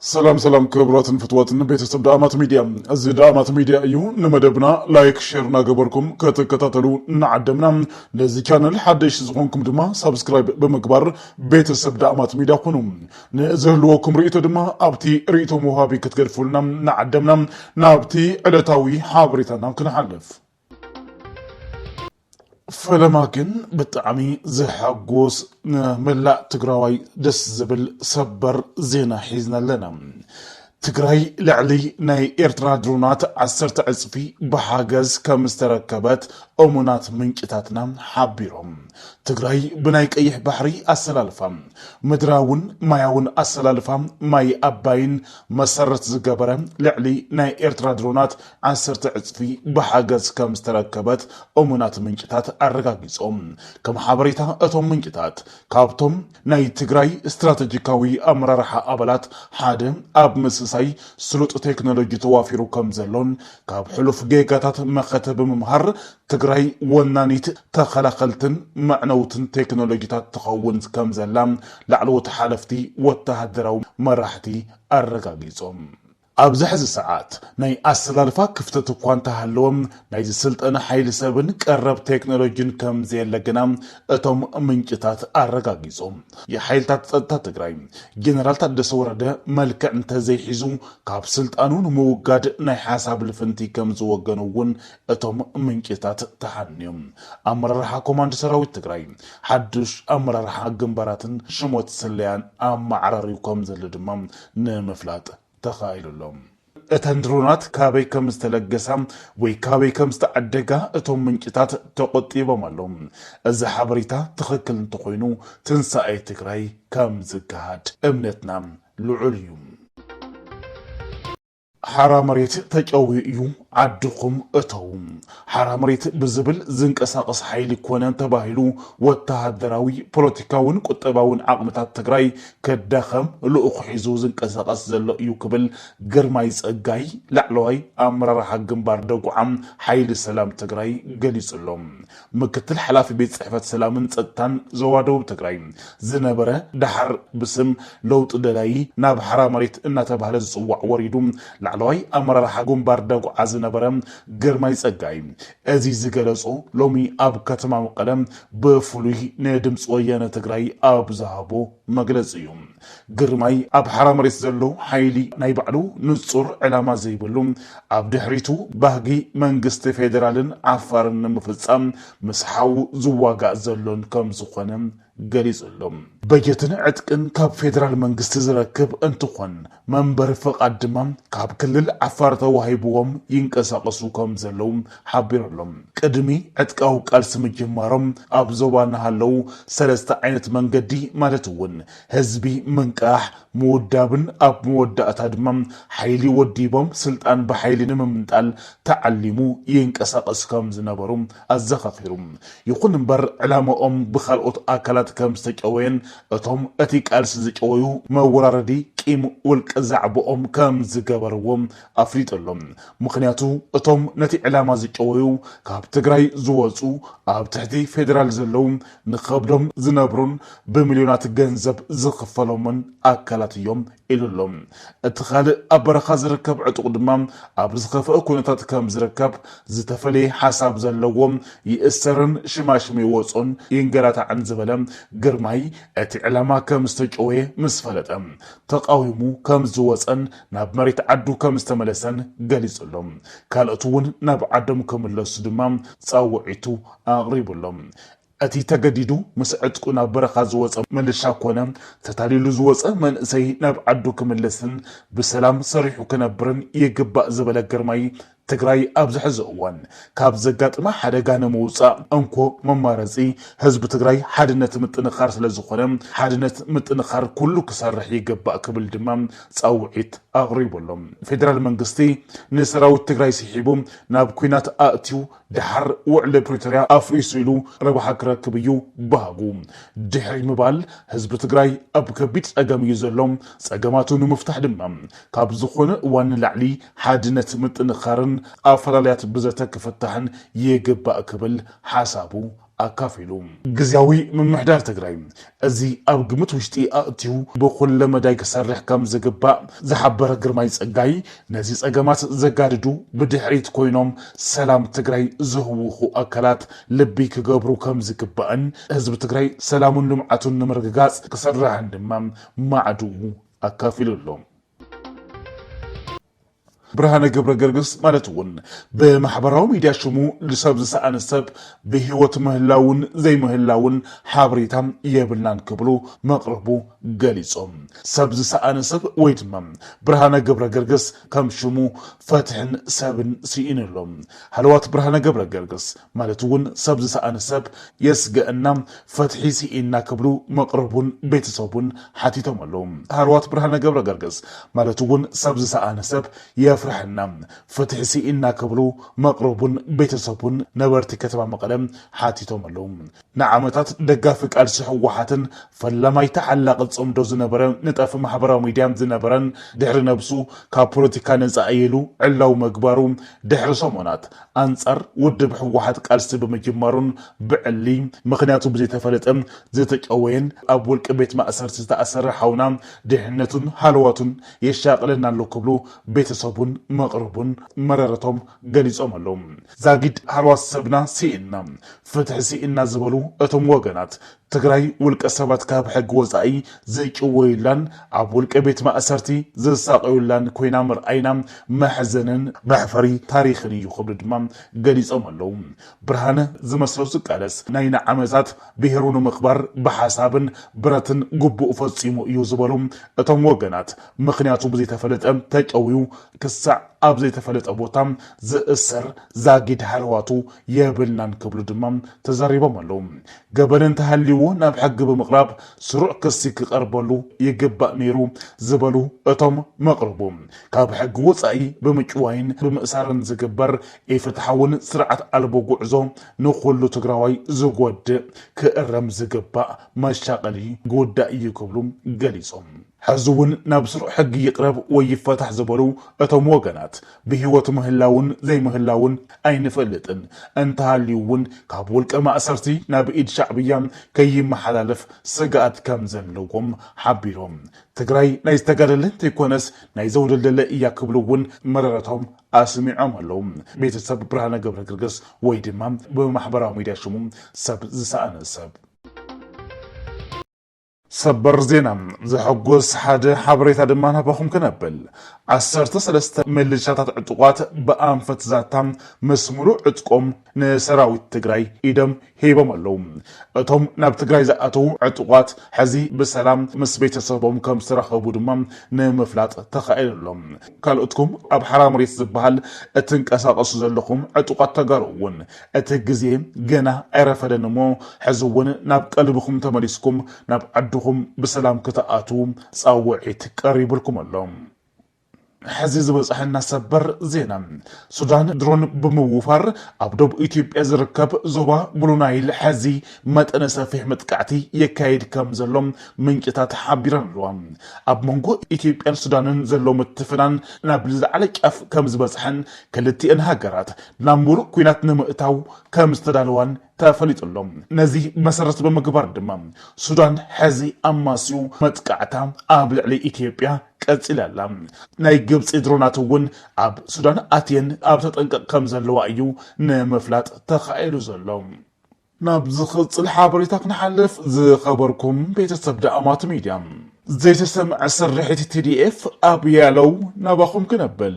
ሰላም ሰላም ክብራትን ፍትዋትን ቤተሰብ ዳእማት ሚድያ እዚ ዳእማት ሚድያ እዩ ንመደብና ላይክ ሼር እናገበርኩም ከተከታተሉ እናዓደምና ነዚ ቻነል ሓደሽ ዝኾንኩም ድማ ሳብስክራይብ ብምግባር ቤተሰብ ዳእማት ሚድያ ኩኑ ንዝህልወኩም ርእቶ ድማ ኣብቲ ርእቶ መውሃቢ ክትገድፉልና እናዓደምና ናብቲ ዕለታዊ ሓበሬታና ክንሓልፍ ፈለማ ግን ብጣዕሚ ዘሐጉስ ንመላእ ትግራዋይ ደስ ዝብል ሰበር ዜና ሒዝና ኣለና። ትግራይ ልዕሊ ናይ ኤርትራ ድሮናት ዓሰርተ ዕፅፊ ብሓገዝ ከም ዝተረከበት እሙናት ምንጭታትና ሓቢሮም። ትግራይ ብናይ ቀይሕ ባሕሪ ኣሰላልፋ ምድራውን ማያውን ኣሰላልፋ ማይ ኣባይን መሰረት ዝገበረ ልዕሊ ናይ ኤርትራ ድሮናት ዓሰርተ ዕጽፊ ብሓገዝ ከም ዝተረከበት እሙናት ምንጭታት ኣረጋጊጾም። ከም ሓበሬታ እቶም ምንጭታት፣ ካብቶም ናይ ትግራይ ስትራተጂካዊ ኣመራርሓ ኣባላት ሓደ ኣብ ምስሳይ ስሉጥ ቴክኖሎጂ ተዋፊሩ ከም ዘሎን ካብ ሕሉፍ ጌጋታት መኸተ ብምምሃር ትግራይ ወናኒት ተኸላኸልትን መዕነውትን ቴክኖሎጂታት ትኸውን ከም ዘላ ላዕለዎት ሓለፍቲ ወተሃደራዊ መራሕቲ ኣረጋጊጾም። ኣብዚ ሕዚ ሰዓት ናይ ኣሰላልፋ ክፍተት እኳ እንተሃለወ ናይ ዝስልጠነ ሓይሊ ሰብን ቀረብ ቴክኖሎጂን ከምዘየለ ግና እቶም ምንጭታት ኣረጋጊፆም። የሓይልታት ፀጥታ ትግራይ ጀነራል ታደሰ ወረደ መልክዕ እንተዘይሒዙ ካብ ስልጣኑ ንምውጋድ ናይ ሓሳብ ልፍንቲ ከምዝወገኑ እውን እቶም ምንጭታት ተሓንዮም። ኣመራርሓ ኮማንድ ሰራዊት ትግራይ ሓዱሽ ኣመራርሓ ግንባራትን ሽሞት ስለያን ኣመዓራርዩ ከምዘሎ ድማ ንምፍላጥ ተኻኢሉ ኣሎ። እተን ድሮናት ካበይ ከም ዝተለገሳ ወይ ካበይ ከም ዝተዓደጋ እቶም ምንጭታት ተቖጢቦም ኣለዉ። እዚ ሓበሬታ ትኽክል እንተኾይኑ ትንሳኤ ትግራይ ከም ዝገሃድ እምነትና ልዑል እዩ። ሓራ መሬት ተጨውዩ እዩ ዓድኹም እተዉ ሓራ መሬት ብዝብል ዝንቀሳቐስ ሓይሊ ኮነ ተባሂሉ ወተሃደራዊ፣ ፖለቲካውን ቁጠባውን ዓቕምታት ትግራይ ከዳኸም ልኡኽ ሒዙ ዝንቀሳቐስ ዘሎ እዩ ክብል ግርማይ ፀጋይ ላዕለዋይ ኣመራርሓ ግንባር ደጉዓ ሓይሊ ሰላም ትግራይ ገሊፁ ኣሎ። ምክትል ሓላፊ ቤት ፅሕፈት ሰላምን ፀጥታን ዞባ ደቡብ ትግራይ ዝነበረ ደሓር ብስም ለውጢ ደላዪ ናብ ሓራ መሬት እናተብሃለ ዝፅዋዕ ወሪዱ ላዕለዋይ ኣመራርሓ ግንባር ደጉዓ ዝነበረ ግርማይ ፀጋይ እዚ ዝገለፆ ሎሚ ኣብ ከተማ መቐለ ብፍሉይ ንድምፂ ወያነ ትግራይ ኣብ ዝሃቦ መግለፂ እዩ። ግርማይ ኣብ ሓራ መሬት ዘሎ ሓይሊ ናይ ባዕሉ ንፁር ዕላማ ዘይብሉ ኣብ ድሕሪቱ ባህጊ መንግስቲ ፌዴራልን ዓፋርን ንምፍፃም ምስ ሓዉ ዝዋጋእ ዘሎን ከምዝኾነ ገሊፁ ኣሎ። በጀትን ዕጥቅን ካብ ፌዴራል መንግስቲ ዝረክብ እንትኾን መንበሪ ፍቓድ ድማ ካብ ክልል ዓፋር ተዋሂብዎም ይንቀሳቐሱ ከምዘለዉ ሓቢሩ'ሎ። ቅድሚ ዕጥቃዊ ቃልሲ ምጅማሮም ኣብ ዞባ ንሃለው ሰለስተ ዓይነት መንገዲ ማለት እውን ህዝቢ ምንቃሕ፣ ምውዳብን ኣብ መወዳእታ ድማ ሓይሊ ወዲቦም ስልጣን ብሓይሊ ንምምንጣል ተዓሊሙ ይንቀሳቐሱ ከም ዝነበሩ ኣዘኻኺሩ። ይኹን እምበር ዕላማኦም ብካልኦት ኣካላት ከም ዝተጨወየን እቶም እቲ ቃልሲ ዝጨወዩ መወራረዲ ቂም ውልቀ ዛዕባኦም ከም ዝገበርዎ ኣፍሊጡ ኣሎ። ምኽንያቱ እቶም ነቲ ዕላማ ዝጨወዩ ካብ ትግራይ ዝወፁ ኣብ ትሕቲ ፌዴራል ዘለዉ ንኸብዶም ዝነብሩን ብሚልዮናት ገንዘብ ዝኽፈሎምን ኣካላት እዮም ኢሉ ኣሎ። እቲ ኻልእ ኣብ በረኻ ዝርከብ ዕጡቕ ድማ ኣብ ዝኸፍአ ኩነታት ከም ዝርከብ ዝተፈለየ ሓሳብ ዘለዎ ይእሰርን ሽማሽሙ ይወፆን ይንገላታዕን ዝበለ ግርማይ እቲ ዕላማ ከም ዝተጨወየ ምስ ፈለጠ ተቓዊሙ ከም ዝወፀን ናብ መሬት ዓዱ ከም ዝተመለሰን ገሊጹሎም። ካልኦት እውን ናብ ዓዶም ክምለሱ ድማ ጻውዒቱ ኣቕሪቡሎም። እቲ ተገዲዱ ምስ ዕጥቁ ናብ በረኻ ዝወጸ ምልሻ ኮነ ተታሊሉ ዝወጸ መንእሰይ ናብ ዓዱ ክምለስን ብሰላም ሰሪሑ ክነብርን ይግባእ ዝበለ ግርማይ ትግራይ ኣብዚ ሕዚ እዋን ካብ ዘጋጥማ ሓደጋ ንምውፃእ እንኮ መማረፂ ህዝቢ ትግራይ ሓድነት ምጥንኻር ስለዝኾነ ሓድነት ምጥንኻር ኩሉ ክሰርሕ ይገባእ ክብል ድማ ፃውዒት ኣቕሪቡ ኣሎ። ፌዴራል መንግስቲ ንሰራዊት ትግራይ ስሒቡ ናብ ኲናት ኣእትዩ ደሓር ውዕሊ ፕሪቶርያ ኣፍሪሱ ኢሉ ረብሓ ክረክብ እዩ ባህጉ ድሕሪ ምባል ህዝቢ ትግራይ ኣብ ከቢድ ፀገም እዩ ዘሎ። ፀገማቱ ንምፍታሕ ድማ ካብ ዝኾነ እዋን ንላዕሊ ሓድነት ምጥንኻርን ኣፈላልያት ብዘተ ክፍታሕን ይግባእ ክብል ሓሳቡ ኣካፊሉ። ግዝያዊ ምምሕዳር ትግራይ እዚ ኣብ ግምት ውሽጢ ኣእትዩ ብኹለ መዳይ ክሰርሕ ከምዝግባእ ዝሓበረ ግርማይ ፀጋይ ነዚ ፀገማት ዘጋድዱ ብድሕሪት ኮይኖም ሰላም ትግራይ ዝህውኹ ኣካላት ልቢ ክገብሩ ከምዝግባእን ህዝቢ ትግራይ ሰላሙን ልምዓቱን ንምርግጋፅ ክስራሕን ድማ ማዕድኡ ኣካፊሉ ኣሎ። ብርሃነ ገብረገርግስ ማለት እውን ብማሕበራዊ ሚድያ ሽሙ ንሰብ ዝሰኣነ ሰብ ብህይወት ምህላውን ዘይምህላውን ሓበሬታ የብልናን ክብሉ መቕርቡ ገሊፆም። ሰብ ዝሰኣነ ሰብ ወይ ድማ ብርሃነ ገብረገርግስ ከም ሽሙ ፈትሕን ሰብን ስኢኑ ኣሎ። ሃለዋት ብርሃነ ገብረገርግስ ማለት እውን ሰብ ዝሰኣነ ሰብ የስገእና ፈትሒ ስኢንና ክብሉ መቅርቡን ቤተሰቡን ሓቲቶም ኣለው። ሃለዋት ብርሃነ ገብረገርግስ ማለት እውን ሰብ ዝሰኣነ ሰብ የፍረሐና ፍትሒ ስኢንና ክብሉ መቅርቡን ቤተሰቡን ነበርቲ ከተማ መቐለ ሓቲቶም ኣለው። ንዓመታት ደጋፊ ቃልሲ ህወሓትን ፈላማይ ተሓላቒ ፅምዶ ዝነበረ ነጣፊ ማሕበራዊ ሚድያን ዝነበረን ድሕሪ ነብሱ ካብ ፖለቲካ ነፃ እየ ኢሉ ዕላዊ ምግባሩ ድሕሪ ሰሙናት ኣንፃር ውድብ ህወሓት ቃልሲ ብምጅማሩን ብዕሊ ምኽንያቱ ብዘይተፈለጠ ዝተጨወየን ኣብ ውልቂ ቤት ማእሰርቲ ዝተኣሰረ ሓውና ድሕነቱን ሃለዋቱን የሻቕለና ኣሎ ክብሉ ቤተሰቡን መቕርቡን መረረቶም ገሊፆም ኣለው። ዛጊድ ሃልዋት ሰብና ስኢንና ፍትሒ ስኢንና ዝበሉ እቶም ወገናት፣ ትግራይ ውልቀ ሰባት ካብ ሕጊ ወፃኢ ዝጭወዩላን ኣብ ውልቀ ቤት ማእሰርቲ ዝሳቐዩላን ኮይና ምርኣይና መሕዘንን መሕፈሪ ታሪኽን እዩ ክብሉ ድማ ገሊፆም ኣለው። ብርሃነ ዝመስሎ ዝቃለስ ናይ ንዓመታት ብሄሩ ንምኽባር ብሓሳብን ብረትን ግቡኡ ፈፂሙ እዩ ዝበሉ እቶም ወገናት፣ ምኽንያቱ ብዘይተፈለጠ ተጨውዩ ክሳዕ ኣብ ዘይተፈለጠ ቦታ ዝእሰር ዛጊድ ሃለዋቱ የብልናን ክብሉ ድማ ተዛሪቦም ኣለው። ገበን እንተሃልይዎ ናብ ሕጊ ብምቕራብ ስሩዕ ክሲ ክቐርበሉ ይግባእ ነይሩ ዝበሉ እቶም መቕርቡ፣ ካብ ሕጊ ወፃኢ ብምጭዋይን ብምእሳርን ዝግበር ኢፍትሓውን ስርዓት ኣልቦ ጉዕዞ ንኹሉ ትግራዋይ ዝጎድእ ክእረም ዝግባእ መሻቐሊ ጉዳይ እዩ ክብሉ ገሊፆም። ሕዚ እውን ናብ ስሩዕ ሕጊ ይቕረብ ወይ ይፈታሕ ዝበሉ እቶም ወገናት ብህይወት ምህላውን ዘይምህላውን ኣይንፈልጥን፣ እንተሃልዩ እውን ካብ ውልቀ ማእሰርቲ ናብ ኢድ ሻዕብያ ከይመሓላለፍ ስግኣት ከም ዘለዎም ሓቢሮም። ትግራይ ናይ ዝተጋደለ እንተይኮነስ ናይ ዘውደልደለ እያ ክብሉ እውን መረረቶም ኣስሚዖም ኣለው። ቤተሰብ ብርሃነ ገብረግርግስ ወይ ድማ ብማሕበራዊ ሚዲያ ሽሙ ሰብ ዝሰኣነ ሰብ። ሰበር ዜና ዘሐጉስ ሓደ ሓበሬታ ድማ ናባኹም ክነብል ዓሰርተ ሰለስተ ምልሻታት ዕጡቋት ብኣንፈት ዛታ ምስ ሙሉእ ዕጥቆም ንሰራዊት ትግራይ ኢዶም ሂቦም ኣለዉ። እቶም ናብ ትግራይ ዝኣተዉ ዕጡቋት ሕዚ ብሰላም ምስ ቤተሰቦም ከም ዝተረኸቡ ድማ ንምፍላጥ ተኻኢሉ ኣሎ። ካልኦትኩም ኣብ ሓራ መሬት ዝበሃል እትንቀሳቐሱ ዘለኹም ዕጡቋት ተጋሩ እውን እቲ ግዜ ገና ኣይረፈደን እሞ ሕዚ እውን ናብ ቀልብኹም ተመሊስኩም ናብ ዓድኹም ብሰላም ክትኣትዉ ፃውዒት ቀሪቡልኩም ኣሎ። ሕዚ ዝበፀሐና ሰበር ዜና ሱዳን ድሮን ብምውፋር ኣብ ዶብ ኢትዮጵያ ዝርከብ ዞባ ብሉ ናይል ሕዚ መጠነ ሰፊሕ መጥቃዕቲ የካይድ ከም ዘሎ ምንጭታት ሓቢረን ኣለዋ። ኣብ መንጎ ኢትዮጵያን ሱዳንን ዘሎ ምትፍናን ናብ ዝለዓለ ጫፍ ከም ዝበፅሐን ክልቲኤን ሃገራት ናብ ሙሉእ ኲናት ንምእታው ከም ዝተዳለዋን ተፈሊጡ ኣሎ። ነዚ መሰረት ብምግባር ድማ ሱዳን ሕዚ ኣማስዩ መጥቃዕታ ኣብ ልዕሊ ኢትዮጵያ ቀፂላ ኣላ። ናይ ግብፂ ድሮናት እውን ኣብ ሱዳን ኣትየን ኣብ ተጠንቀቕ ከም ዘለዋ እዩ ንምፍላጥ ተኻኢሉ ዘሎ። ናብ ዝኽጽል ሓበሬታ ክንሓልፍ ዝኸበርኩም ቤተሰብ ደኣማት ሚድያ ዘይተሰምዐ ስርሒት ቲዲኤፍ ኣብ ያለው ናባኹም ክነብል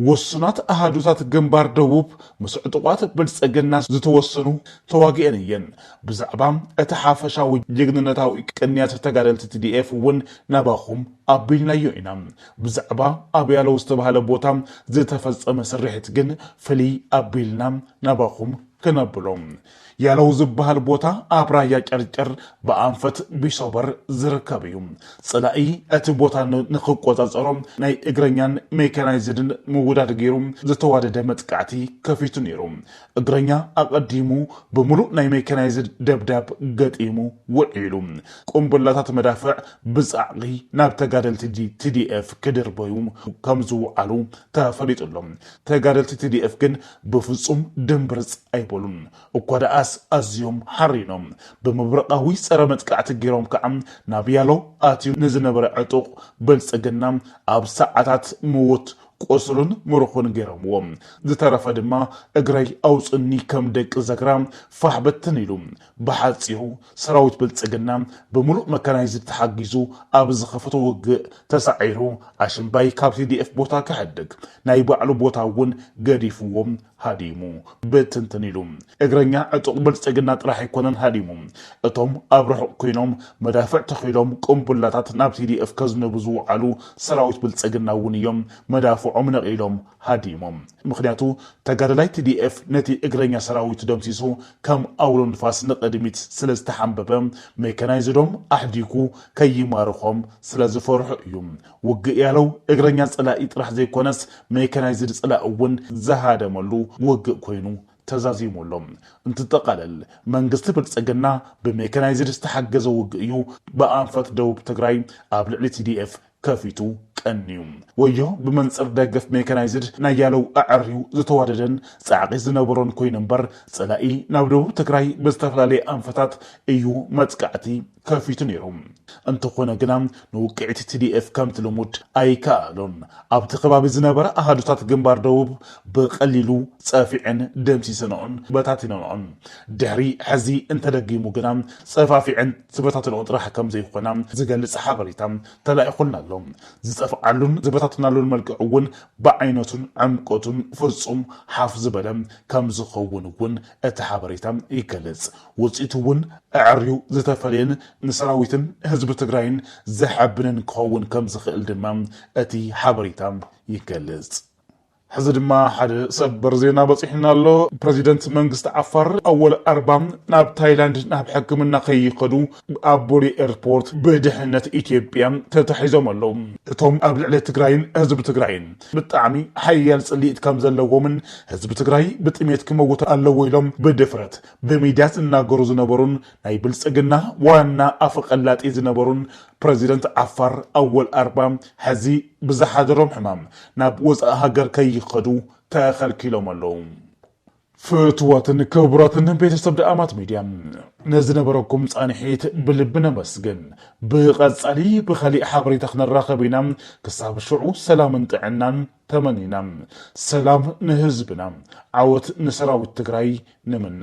ውሱናት ኣሃዱታት ግንባር ደቡብ ምስ ዕጡቋት ብልጽግና ዝተወሰኑ ተዋጊኤን እየን ብዛዕባ እቲ ሓፈሻዊ ጅግንነታዊ ቅንያት ተጋደልቲ ቲዲኤፍ እውን ናባኹም ኣቢልናዮ ኢና ብዛዕባ ኣብ ያለው ዝተባህለ ቦታ ዝተፈጸመ ስርሒት ግን ፍልይ ኣቢልና ናባኹም ክነብሎ ያለው ዝበሃል ቦታ ኣብ ራያ ጨርጨር ብኣንፈት ቢሶበር ዝርከብ እዩ። ጸላኢ እቲ ቦታ ንክቆጻጸሮ ናይ እግረኛን ሜካናይዝድን ምውዳድ ገይሩ ዝተዋደደ መጥቃዕቲ ከፊቱ ነይሩ። እግረኛ ኣቐዲሙ ብምሉእ ናይ ሜካናይዝድ ደብዳብ ገጢሙ ውዒሉ። ቁምብላታት መዳፍዕ ብጻዕቒ ናብ ተጋደልቲ ቲዲኤፍ ክድርበዩ ከምዝውዓሉ ተፈሊጡ ኣሎ። ተጋደልቲ ቲዲኤፍ ግን ብፍጹም ድምብርጽ ኣይበሉን፣ እኳ ደኣስ ኣዝዮም ሓሪኖም። ብመብረቓዊ ጸረ መጥቃዕቲ ገይሮም ከኣ ናብ ያሎ ኣትዩ ንዝነበረ ዕጡቕ ብልጽግና ኣብ ሰዓታት ምዉት፣ ቁሱሉን ምሩኹን ገይሮምዎ። ዝተረፈ ድማ እግረይ ኣውጹኒ ከም ደቂ ዘግራ ፋሕ ብትን ኢሉ። ብሓጺሩ ሰራዊት ብልፅግና ብሙሉእ መካናይዝድ ተሓጊዙ ኣብ ዝኸፈቶ ውግእ ተሳዒሩ ኣሽምባይ ካብ ቲዲኤፍ ቦታ ክሕድግ ናይ ባዕሉ ቦታ እውን ገዲፍዎ ሃዲሙ ብትንትን ኢሉ። እግረኛ ዕጡቕ ብልፅግና ጥራሕ ኣይኮነን ሃዲሙ። እቶም ኣብ ርሑቕ ኮይኖም መዳፍዕ ተኺሎም ቁምቡላታት ናብ ቲዲኤፍ ከዝንቡ ዝወዓሉ ሰራዊት ብልፅግና እውን እዮም መዳፍዖም ነቒሎም ሃዲሞም። ምኽንያቱ ተጋዳላይ tdf ነቲ እግረኛ ሰራዊቱ ደምሲሱ ከም ኣውሎ ንፋስ ንቕድሚት ስለ ዝተሓምበበ ሜካናይዝዶም ኣሕዲጉ ከይማርኾም ስለ ዝፈርሖ እዩ። ውግእ ያለው እግረኛ ፀላኢ ጥራሕ ዘይኮነስ ሜካናይዝድ ፀላኢ እውን ዝሃደመሉ ውግእ ኮይኑ ተዛዚሙ ኣሎ። እንትጠቓለል መንግስቲ ብልፅግና ብሜካናይዝድ ዝተሓገዘ ውግእ እዩ ብኣንፈት ደቡብ ትግራይ ኣብ ልዕሊ tdf ከፊቱ ቀንዩ። ወዮ ብመንጽር ደገፍ ሜካናይዝድ ናይ ያለው ኣዐርዩ ዝተዋደደን ጻዕቒ ዝነበሮን ኮይኑ እምበር ጸላኢ ናብ ደቡብ ትግራይ ብዝተፈላለየ ኣንፈታት እዩ መጥቃዕቲ ከፊቱ ነይሩ። እንተኾነ ግና ንውቅዒት tdf ከምቲ ልሙድ ኣይከኣሎን። ኣብቲ ከባቢ ዝነበራ ኣሃዱታት ግንባር ደቡብ ብቐሊሉ ጸፊዐን ደምሲሰንኦን በታቲነንኦን። ድሕሪ ሕዚ እንተደጊሙ ግና ጸፋፊዐን ዝበታተንኦ ጥራሕ ከምዘይኾና ዝገልፅ ሓበሬታ ተላኢኹልና ኣሎ። ዝጠፍኣሉን ዝበታተናሉን መልክዕ እውን ብዓይነቱን ዕምቆቱን ፍፁም ሓፍ ዝበለ ከምዝኸውን እውን እቲ ሓበሬታ ይገልፅ። ውፅኢቱ እውን ኣዐርዩ ዝተፈለየን ንሰራዊትን ህዝቢ ትግራይን ዘሐብንን ክኸውን ከምዝኽእል ድማ እቲ ሓበሬታ ይገልፅ። ሕዚ ድማ ሓደ ሰበር ዜና በፂሑና ኣሎ። ፕረዚደንት መንግስቲ ዓፋር ኣወል ኣርባ ናብ ታይላንድ ናብ ሕክምና ከይኸዱ ኣብ ቦሌ ኤርፖርት ብድሕነት ኢትዮጵያ ተታሒዞም ኣለዉ። እቶም ኣብ ልዕሊ ትግራይን ህዝቢ ትግራይን ብጣዕሚ ሓያል ፅልኢት ከምዘለዎምን ህዝቢ ትግራይ ብጥሜት ክመውት ኣለዎ ኢሎም ብድፍረት ብሚድያ ዝናገሩ ዝነበሩን ናይ ብልፅግና ዋና ኣፈቀላጢ ዝነበሩን ፕረዚደንት ዓፋር ኣወል ኣርባ ሐዚ ብዝሓደሮም ሕማም ናብ ወፃኢ ሃገር ከይኸዱ ተኸልኪሎም ኣለው። ፍትወትን ክቡራትን ቤተሰብ ደኣማት ሚድያ ንዝነበረኩም ፃንሒት ብልቢ ነመስግን። ብቐፃሊ ብኻሊእ ሓበሬታ ክንራኸብ ኢና ክሳብ ሽዑ ሰላምን ጥዕናን ተመኒና ሰላም ንህዝብና ዓወት ንሰራዊት ትግራይ ንምነ።